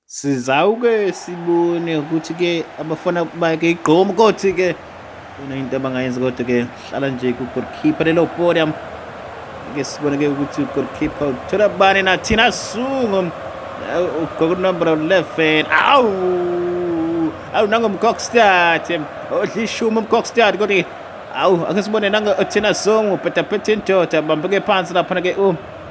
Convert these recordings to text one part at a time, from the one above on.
Sizawuke sibone ukuthi-ke abafana bake igqomu kothi-ke khona into abangayenzi kodwa-ke hlala nje kugolkhipha lelo podium ke sibone-ke ukuthi ugolkhipha uthola bani nathina sungo ugqoka unombolo 11 awu awu nangomcockstad odla ishumi umcockstad kodwa awu ake sibone nangothina sungo bhedaphethe indoda bambeke phansi laphana-ke u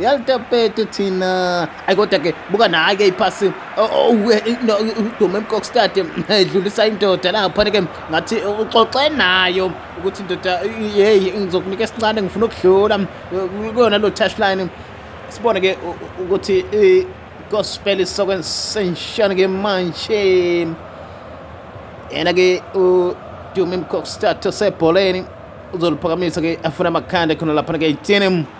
yalitapete thina ayi kodwa ke buka naye ke iphasi udume emkokstade edlulisa indoda laphana ke ngathi uxoxe nayo ukuthi indoda yeyi ngizokunika esincane ngifuna ukudlula kuyona lo touchline sibone ke ukuthi gospel isokwensenshana ke manje yena ke udume emkokstade osebholeni uzoliphakamisa ke afuna amakhanda khona laphana ke itini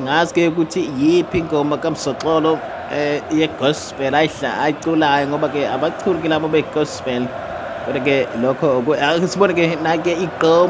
ngazi ke ukuthi yiphi ingoma kamsoxolo um eh, yegospel ayiculayo ngoba ke abachuli ke labo begospel kodwa ke lokho sibone ke nake igqoma